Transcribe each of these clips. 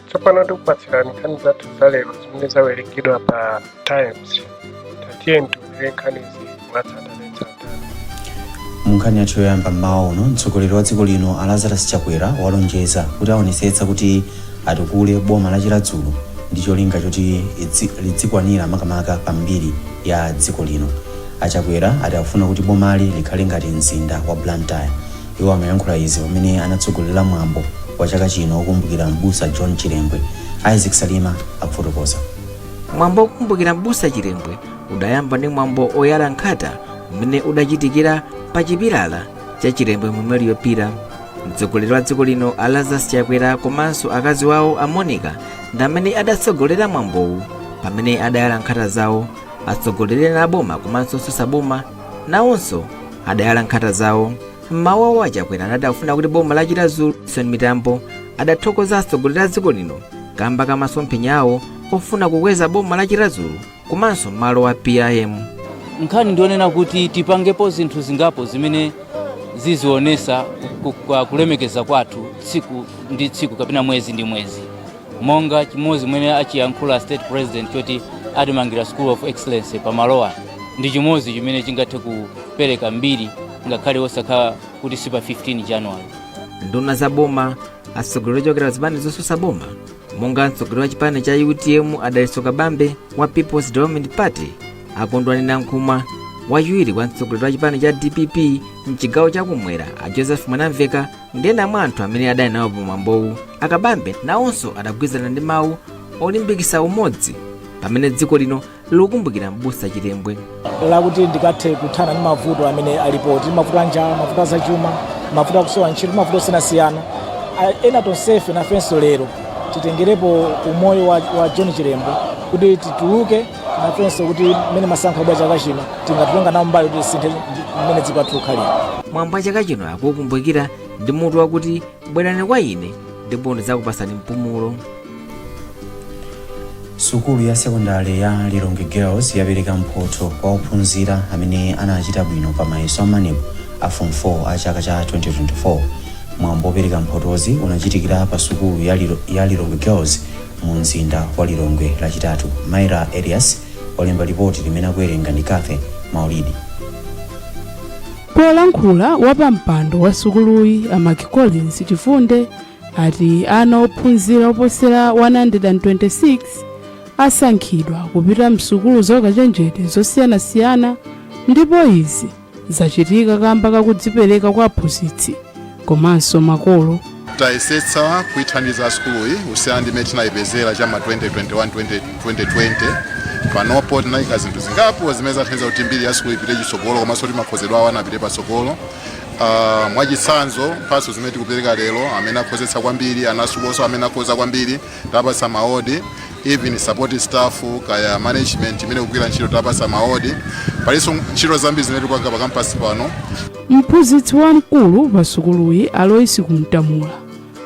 tsopano tikupatsirani nkhani zathu za lero zimene zawerengedwa pa times tiyeni tiwerenge nkhanizi mwatsatanetsatane munkhani yathu yoyamba mmawa uno mtsogoleri wa dziko lino a lazarus chakwera walonjeza kuti aonetsetsa kuti atukule boma la chiradzulu ndi cholinga choti lidzikwanira makamaka pa mbiri ya dziko lino achakwera ati akufuna kuti bomali likhale ngati mzinda wa blantyre Iwo amayankhula izi pamene anatsogolera mwambo wa chaka chino wokumbukira m'busa John Chilembwe. Isaac Salima akufotokoza. Mwambo wokumbukira m'busa Chilembwe udayamba ndi mwambo oyala nkhata umene udachitikira pa chipilala cha Chilembwe Memorial Pillar. Mtsogoleri wa dziko lino a Lazarus Chakwera komanso akazi wawo a Monica ndi amene adatsogolera mwambowu pamene adayala nkhata zawo. Atsogoleri ena aboma komanso osaboma nawonso adayala nkhata zawo mmawu awo achakwera anati akufuna kuti boma la chiradzulu son mitambo adathokoza atsogoleri a dziko lino kamba ka masomphenya awo ofuna kukweza boma la chiradzulu komanso malo wa pim nkhani ndi yonena kuti tipangepo zinthu zingapo zimene zizionesa ku- ka- kulemekeza kwathu tsiku ndi tsiku kapena mwezi ndi mwezi monga chimodzi mmene achiyankhula state president choti atimangire school of excellence pamalowa ndi chimodzi chimene chingathe kupereka mbiri ngakhale osakhala kuti si pa 15 january nduna za boma atsogoleri ochokera zipani zosusa boma monga mtsogoleri wa chipani cha utm adalitso kabambe wa peoples development party akondwani nankhumwa wachiwiri kwa mtsogoleri wa chipani cha dpp mchigawo chakumwera a joseph mwanamveka ndena mwa anthu amene adali nawo pamwambowu akabambe nawonso adagwirizana ndi mawu olimbikitsa umodzi pamene dziko lino likukumbukira mbusa chilembwe lakuti tikathe kuthana ndi mavuto amene alipo tili mavuto a njala mavuto a zachuma mavuto akusowa ntchito ndi mavuto osiyanasiyana ena tonsefe nafenso lero titengerepo umoyo wa john chilembwe kuti tituluke nafenso kuti mmene masankho abwera chaka chino tikatenge nawo mbali kuti tisinthe mmene dziko lathu likhalira mwambo wa chaka chino akukumbukira ndi mutu wakuti bwerani kwa ine ndipo ndidzakupatsani mpumulo sukulu ya sekondari ya lilongwe girls yapereka mphotho kwa ophunzira amene anachita bwino pa mayeso amaneb a form 4 a chaka cha 2024 mwambo wopereka mphotozi unachitikira pa sukulu ya lilongwe girls mu nzinda wa Lilongwe lachitatu. Myra Elias walemba lipoti limene akuwerenga ndi Cathy Maulidi. Polankhula wapampando wa sukuluyi a Mark Collins Chifunde ati ana ophunzira oposera 126 asankhidwa kupita msukulu zaukachenjede zosiyanasiyana ndipo izi zachitika kamba kakudzipereka kwa aphunzitsi komanso makolo tayesetsa kuithandiza sukuluyi kusiyana ndi mmene tinayipezera cha ma 2021 2020 panopo tinayika zinthu zingapo zimene zathandiza kuti mbiri ya sukulu ipite chitsogolo komanso kuti makhozedwe awo apite patsogolo Uh, mwachitsanzo mphatso zimene tikupereka lero amene akhozetsa kwambiri ana asukulunso amene akhoza kwambiri tapatsa maawodi even support staff kaya management imene ikugwira ntchito tapatsa maawodi palinso ntchito zambiri zimene tikupanga pa kampasi pano mphunzitsi wamkulu pa sukuluyi Alois Kumtamula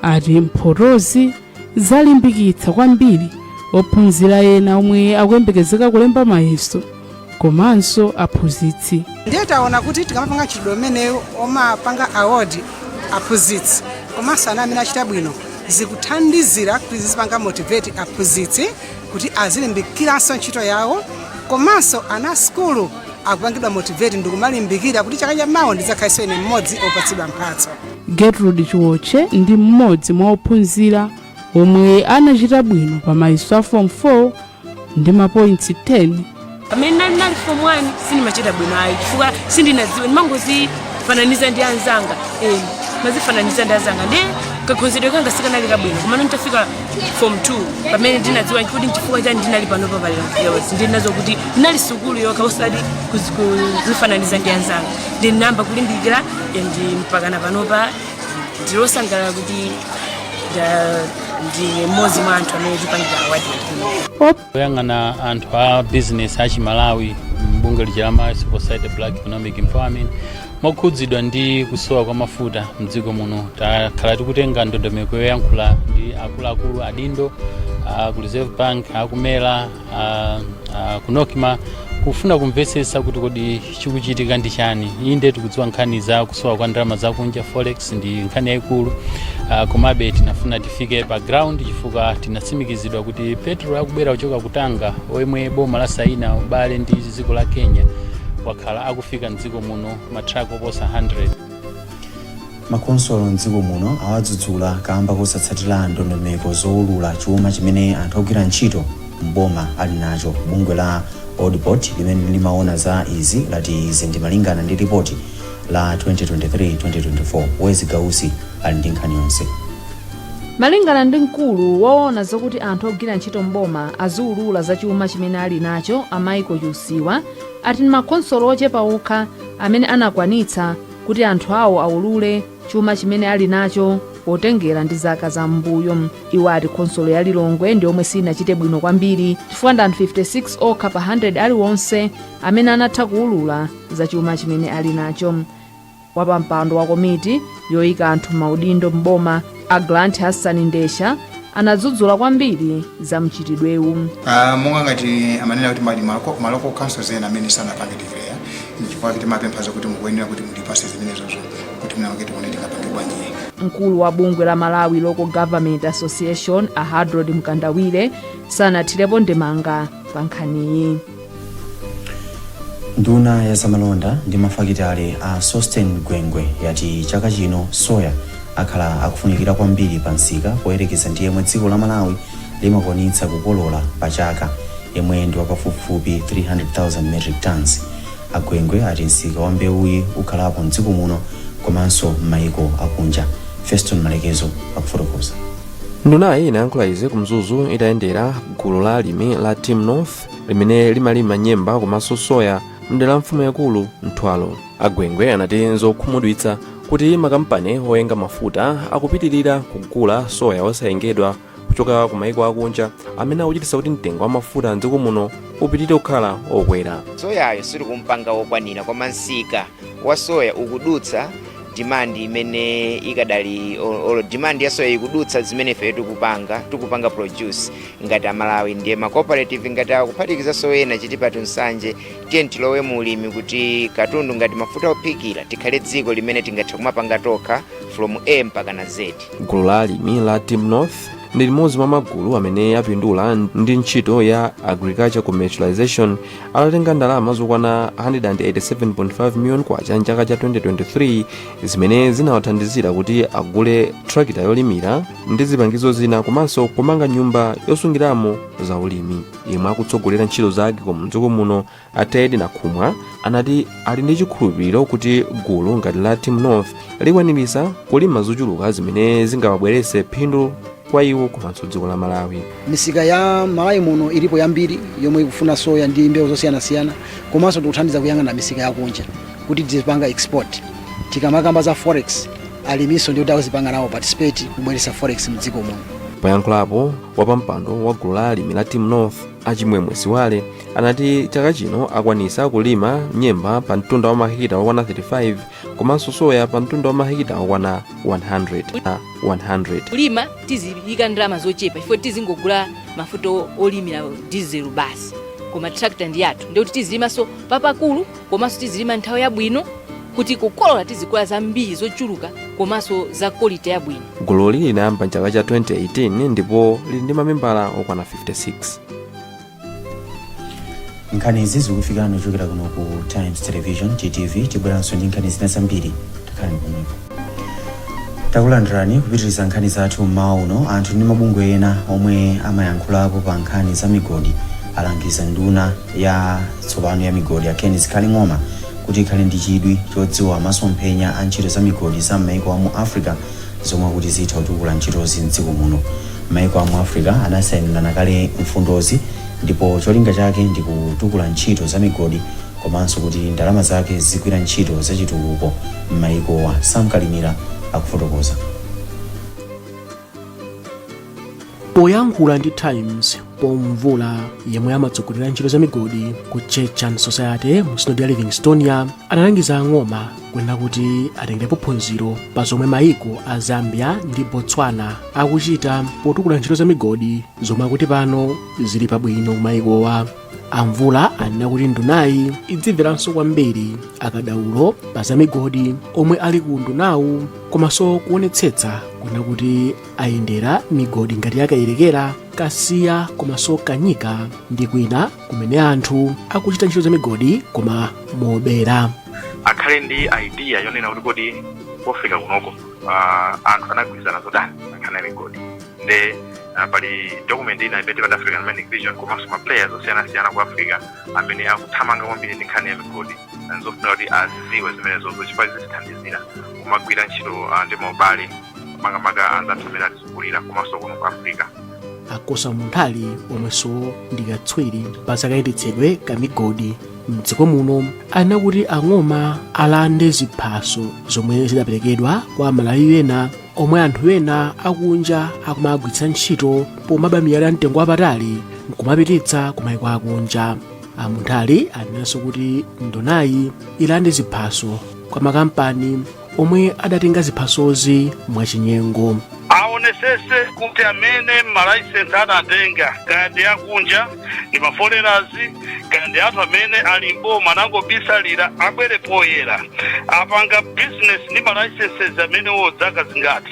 ati mphotozi zalimbikitsa kwambiri ophunzira ena omwe akuyembekezeka kulemba mayeso komanso aphunzitsi ndiye taona kuti tikamapanga mchitidwe umenewu omapanga award aphunzitsi komanso ana amene achita bwino zikuthandizira kuti zizipanga motivate aphunzitsi kuti azilimbikiranso ntchito yawo komanso ana asukulu akupangidwa motivate ndikumalimbikira kuti chaka chamawa ndidzakhalenso ine mmodzi opatsidwa mphatso gertrude chiwoche ndi mmodzi mwa ophunzira omwe anachita bwino pa mayeso a form 4 ndi mapointsi 10 pamene ndinali form 1 sindimachita bwino ayi chifukwa sindinadziwe ndimangozifananiza ndi anzanga eh, ndimazifananiza ndi anzanga ndi kakhozedwe kanga sikanali kabwino komano nditafika form 2 pamene ndinadziwa kuti nchifukwa chani ndinali pano papalira mfiyawesi ndinadziwa kuti inali sukulu yokha osati kuzi- kuzifananiza ndi anzanga ndinayamba kulimbikira eh, ndi mpakana panopa ndilosangalala kuti nda- ndine mmodzi mwa anthu amene tipangira awadi kuno oyang'ana anthu a bizinesi a chimalawi mbungwe lija la malawi civil society black economic empowerment mokhudzidwa ndi kusowa kwa mafuta mdziko muno takhala tikutenga ndondomeko yoyankhula ndi akuluakulu adindo a ku reserve bank aku MERA a, a, ku NOCMA kufuna kumvetsetsa kuti kodi chikuchitika ndi chani inde tikudziwa nkhani za kusowa kwa ndalama zakunja forex ndi nkhani yayikulu uh, komabe tinafuna tifike pa ground chifukwa tinatsimikizidwa kuti petulo akubwera kuchoka ku Tanga omwe boma lasaina ubale ndi dziko la kenya wakhala akufika mdziko muno matrako oposa 100 Makhonsolo m'dziko muno awadzudzula kamba kosatsatira ndondomeko zowulula chuma chimene anthu ogwira ntchito m'boma ali nacho. Bungwe la ODPOD limene limawona za izi lati izi ndi malingana ndi lipoti la 2023, 2024. Wezi Gausi ali ndi nkhani yonse. Malingana ndi mkulu wowona zakuti anthu ogwira ntchito m'boma aziwulula za chuma chimene ali nacho a Michael Chiusiwa ati ndi makhonsolo ochepa okha amene anakwanitsa kuti anthu awo aulule chuma chimene ali nacho potengera ndi zaka za m'mbuyo iwo ati khonsolo ya lilongwe ndi yomwe sinachite bwino kwambiri chifukwa ndi anthu 56 okha pa 100 aliwonse amene anatha kuulula za chuma chimene ali nacho wapampando wa komiti yoyika anthu m'maudindo m'boma A Grant Hassan Ndesha anadzudzula kwambiri za mchitidwewu. Ah, monga ngati amanena kuti ma local councils ena amene sanapange declare nchifukwa chake timapempha zokuti mukuyenera kuti mutipatse zimenezozo kuti mwina mwake tione tingapange bwanji mkulu wa bungwe la malawi local government association a hadrod mkandawire sanathirepo ndemanga pa nkhaniyi nduna ya zamalonda ndi mafakitale a sosten gwengwe yati chaka chino soya akhala akufunikira kwambiri pa msika poyerekeza ndi yemwe dziko la malawi limakwanitsa kukolola pa chaka yemwe ndi wapafupifupi 300,000 metric tons a gwengwe ati msika wa mbewuyi ukhalapo mdziko muno komanso m'mayiko akunja feston malekezo akufotokoza ndunayi inayankhula izi ku mzuzu itayendera gulu la alimi la team north limene limalima nyemba komanso soya mdera la mfumu yakulu mtwalo a gwengwe anati nzokhumudwitsa kuti makampani oyenga mafuta akupitirira kugula soya osayengedwa kuchoka ku maiko akunja zimene zikuchititsa kuti mtengo wa mafuta mdziko muno upitirire kukhala okwera soyayo sitikumpanga wokwanira koma msika wa soya ukudutsa demand imene ikadali olo demand ya soya ikudutsa zimene ife tikupanga tikupanga produce ngati amalawi ndiye ma cooperative ngati awa kuphatikizanso ena tichitepo nsanje tiye tilowe mu ulimi kuti katundu ngati mafuta ophikira tikhale dziko limene tingathe kumapanga tokha from a mpaka na z gulu la alimi la team north ndi limodzi mwa magulu amene apindula ndi ntchito ya agriculture commercialization atatenga ndalama zokwana 187.5 million kwacha mchaka cha 2023 zimene zinawathandizira kuti agule trakita yolimira ndi zipangizo zina komanso kumanga nyumba yosungiramo za ulimi yemwe akutsogolera ntchito za agcom mdziko muno a ted nakhumwa anati ali ndi chikhulupiriro kuti gulu ngati la team north likwanirisa kulima zochuluka zimene zingawabwerese phindu kwa iwo komanso dziko la malawi misika ya malawi muno ilipo yambiri yomwe ikufuna soya ndi mbewu zosiyanasiyana komanso tikuthandiza kuyang'ana misika yakunja kuti tizipanga export Tikamakamba za forex, aliminso ndi oti akuzipanga nawo participate kubweretsa forex mdziko muno. Poyankhulapo, wapampando wa gulu la alimi la Team North a Chimwemwe Siwale anati chaka chino akwanisa kulima nyemba pa mtunda wa mahekita okwana 35 komanso soya pa mtunda wa mahekita okwana 100. Kulima tiziyika ndalama zochepa chifukwa tizingogula mafuta olimira diesel basi koma tractor ndi yathu ndikuti tizilimanso papakulu komanso tizilima nthawi yabwino kuti kukolola tizikolola zambiri zochuluka komanso za kolite yabwino gululi linayamba mchaka cha 2018 ndipo lili ndi mamembala okwana 56 nkhani izi zikufikani kuchokera kuno ku times television ttv tibweranso ndi nkhani zina zambiri takhalani pomwepo Takulandirani kupitiliza nkhani zathu m'mawa uno. Anthu ndi mabungwe ena omwe amayankhulapo pa nkhani za migodi alangiza nduna ya tsopano ya migodi a Ken Zikhale Ng'oma kuti ikhale ndi chidwi chodziwa masomphenya a ntchito za migodi za m'maiko a mu Africa zomwe akuti zitha kutukula ntchitozi m'dziko muno. Maiko a mu Africa anasainirana kale mfundozi ndipo cholinga chake ndi kutukula ntchito za migodi komanso kuti ndalama zake zizigwira ntchito zachitukuko m'mayikowa, Sam Kalimira akufotokoza. Poyankhula ndi Times Paul Mvula yemwe amatsogolera ntchito za migodi ku Church and Society mu sinodi ya Livingstonia analangiza a Ng'oma kunena kuti atengerepo phunziro pa zomwe mayiko a Zambia ndi Botswana akuchita potukula ntchito za migodi zomwe akuti pano zili pabwino kumayikowa. a mvula anena kuti ndunayi idzimveranso kwambiri akadaulo pa za migodi omwe ali ku undunawu komanso kuonetsetsa kunena kuti ayendera migodi ngati ya kayerekera kasiya komanso kanyika ndi kwina kumene anthu akuchita ntchito za migodi koma mobera akhale ndi idea yonena kuti kodi pofika kunoko ah, anthu anagwirizana zotani pa nkhani ya migodi nde ah, pali document ina imene timati african mining vision komanso ma players osiyanasiyana ku africa amene akuthamanga kwambiri ndi nkhani ya migodi Ah, nzofunika kuti aziziwe zimenezozo chifukwa zitithandizira kumagwira ntchito ah, ndi ma ubale makamaka anzathu amene atizungulira komanso kuno ku africa a kosa munthali omwenso ndi katswiri pa zakayendetsedwe ka migodi mdziko muno anena kuti a ng'oma alande ziphaso zomwe zidaperekedwa kwa amalawi ena omwe anthu ena akunja akumagwiritsa ntchito pomaba miyala ya mtengo wapatali nkumapititsa ku maiko akunja a munthali anenanso kuti ndunayi ilande ziphaso kwa makampani omwe adatenga ziphasozi mwachinyengo aonesese kuti amene malaisensi adatenga kaya ndi akunja ndi ma foreigners kaya ndi anthu amene ali mboma anangobisalira abwere poyera apanga business ndi ma licenses amenewo dzaka zingati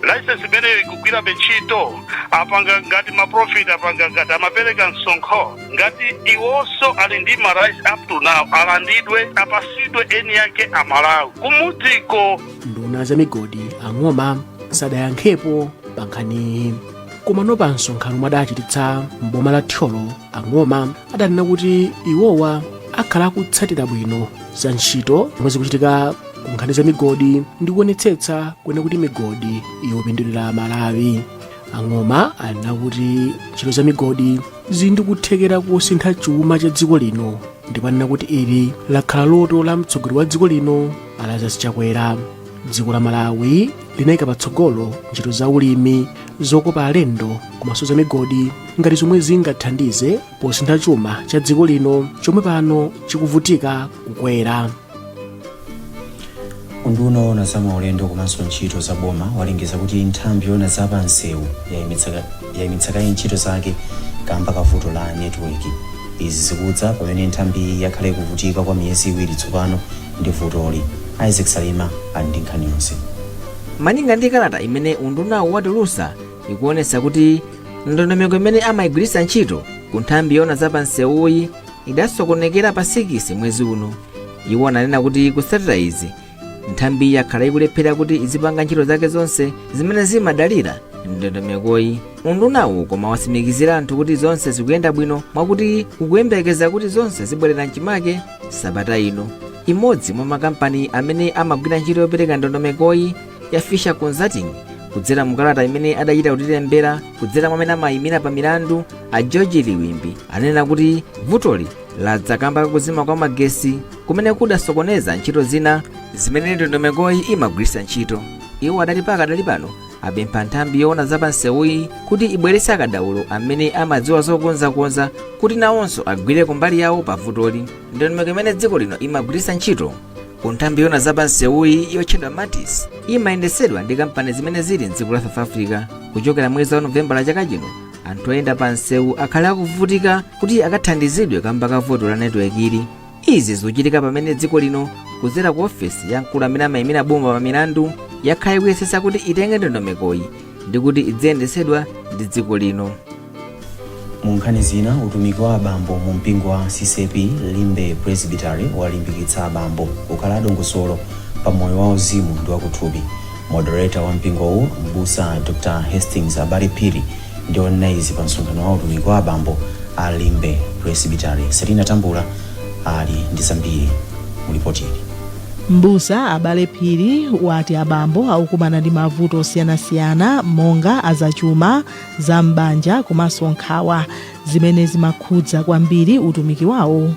license imeneyo ikugwirabe ntchito apanga ngati ma profit apanga ngati amapereka msonkho ngati iwonso ali ndi ma rights up to now alandidwe apasidwe eni yake amalawi kumudziko nduna ya za migodi a ng'oma sadayankhepo pa nkhaniyi koma pa msonkhano omwe adachititsa m'boma la thyolo ang'oma adanena kuti iwowa akhala akutsatira bwino za ntchito zomwe zikuchitika ku nkhani za migodi ndi kuonetsetsa kwenikweni kuti migodi ikupindulira amalawi ang'oma anena kuti ntchito za migodi zili ndi kuthekera kosintha chuma cha dziko lino ndipo anena kuti ili lakhala loto la mtsogoleri wa dziko lino a lazarus chakwera dziko la malawi linayika patsogolo ntchito za ulimi zokopa alendo komanso za migodi ngati zomwe zingathandize posintha chuma cha dziko lino chomwe pano chikuvutika kukwera unduna woona za maulendo komanso ntchito za boma walengeza kuti nthambi yoona za pansewu yayimitsa yaimitsa kaye ntchito zake kamba ka vuto la network. Izi zikudza pamene nthambiyi yakhala ikuvutika kwa miyezi iwiri tsopano ndi vutoli. Isaac Salima ali ndi nkhani yonse. Malinga ndi kalata imene undunawu watulutsa ikuonetsa kuti ndondomeko imene amayigwiritsa ntchito ku nthambi yoona za pa msewuyi idasokonekera pa sikisi mwezi uno. Iwo ananena kuti kutsatira izi nthambiyi yakhala ikulephera kuti izipanga ntchito zake zonse zimene zimadalira ndondomekoyi undunawu koma watsimikizira anthu kuti zonse zikuyenda bwino mwakuti ukuyembekeza kuti zonse zibwerera mchimake sabata ino imodzi mwa makampani amene amagwira ntchito yopereka ndondomekoyi ya fisher consulting kudzera mukalata imene adachita kutilembera kudzera mwa amene amayimira pa milandu a george liwimbi anena kuti vutoli ladza kamba kakuzima kwa magesi kumene kudasokoneza ntchito zina zimene ndondomekoyi imagwiritsa ntchito iwo adati pakadali pano apempha nthambi yoona za pansewuyi kuti ibweretse akadaulo amene amadziwa zokonzakonza kuti nawonso agwire kumbali yawo pa vutoli ndondomeko imene dziko lino imagwiritsa ntchito ku nthambi yoona za pansewuyi yotchedwa maltis imayendetsedwa ndi kampani zimene zili mdziko la south africa kuchokera mwezi wa novembala chaka chino anthu oyenda pansewu akhala akuvutika kuti akathandizidwe kamba ka vuto la netiweki ili izi zikuchitika pamene dziko lino kudzera ku ofesi ya mkulu amene amayimira boma pa milandu yakhala ikuyesetsa kuti itenge ndondomekoyi ndi kuti idziyendetsedwa ndi dziko lino mu nkhani zina utumiki wa abambo mu mpingo wa ccap limbe presbytery walimbikitsa abambo kukhala adongosolo pa moyo wa uzimu ndi wakuthupi moderator wa mpingowu mbusa dr hastings abale phiri ndi onena izi pa msonkhano wa utumiki wa abambo a m'Limbe Presbytery. Selina Tambula ali ndi zambiri mu lipoti ili. M'busa Abale Phiri wati abambo akukumana ndi mavuto osiyanasiyana monga azachuma, za m'banja komanso nkhawa zimene zimakhudza kwambiri utumiki wawo.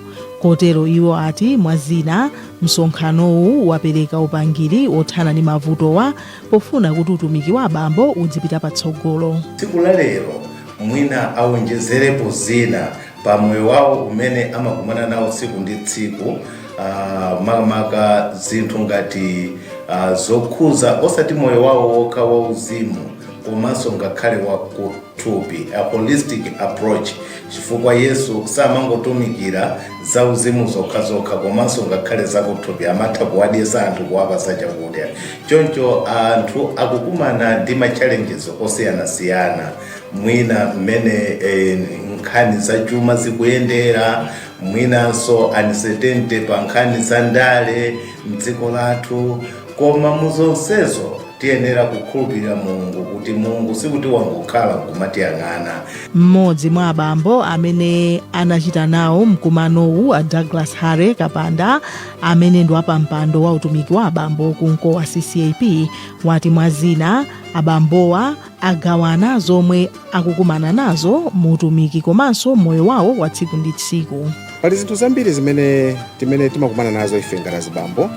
Kotero iwo ati mwa zina msonkhanowu wapereka upangiri wothana ndi mavutowa pofuna kuti utumiki wa abambo udzipita patsogolo. tsiku la lero mwina awonjezerepo zina pa moyo wawo umene amakumana nawo tsiku ndi tsiku ah, makamaka zinthu ngati ah, zokhuza osati moyo wawo wokha wauzimu komanso ngakhale wa ku- thupi, a holistic approach, chifukwa Yesu samangotumikira za uzimu zokhazokha komanso ngakhale zakuthupi amatha kuwadyesa anthu kuwapasa chakudya choncho anthu akukumana ndi ma challenges osiyanasiyana mwina mmene eh, nkhani za chuma zikuyendera mwinanso uncertainty pa nkhani za ndale mdziko lathu koma muzonsezo Tiyenera kukhulupirira Mulungu kuti Mulungu sikuti wangokhala n'kumatiyang'ana. M'modzi mwa abambo amene anachita nawo mkumanowu a Douglas Harry Kapanda amene ndi wapampando wa utumiki wa abambo ku Mkowa CCAP wati mwa zina abambowa, agawana zomwe akukumana nazo mu utumiki komanso moyo wawo wa tsiku ndi tsiku pali zinthu zambiri zimene timene timakumana nazo ife ngati azibambo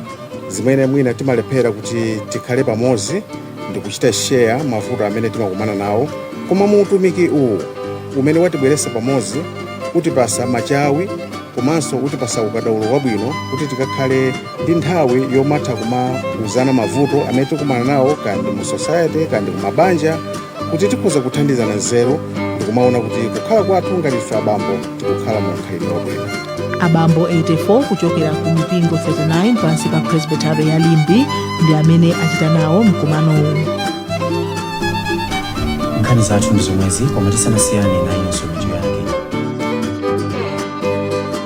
zimene mwina timalephera kuti tikhale pamodzi ndi kuchita share mavuto amene timakumana nawo koma mu utumiki uwu umene watibweretsa pamodzi utipasa machawi komanso utipasa ukadaulo wabwino kuti tikakhale ndi nthawi yomatha kumauzana mavuto amene tikumana nawo kaya ndi mu society kaya ndi kumabanja kuti tikhoza kuthandizana nzeru ndikumaona kuti kukhala kwathu ngati ife abambo tikukhala mu mkhalidwe wabwino abambo 84 kuchokera ku mipingo 39 pansi pa presbytery ya Limbe ndi amene achita nawo mkumanowu nkhani zathu ndi zomwezi koma tisanasiyane nayonso mitu yake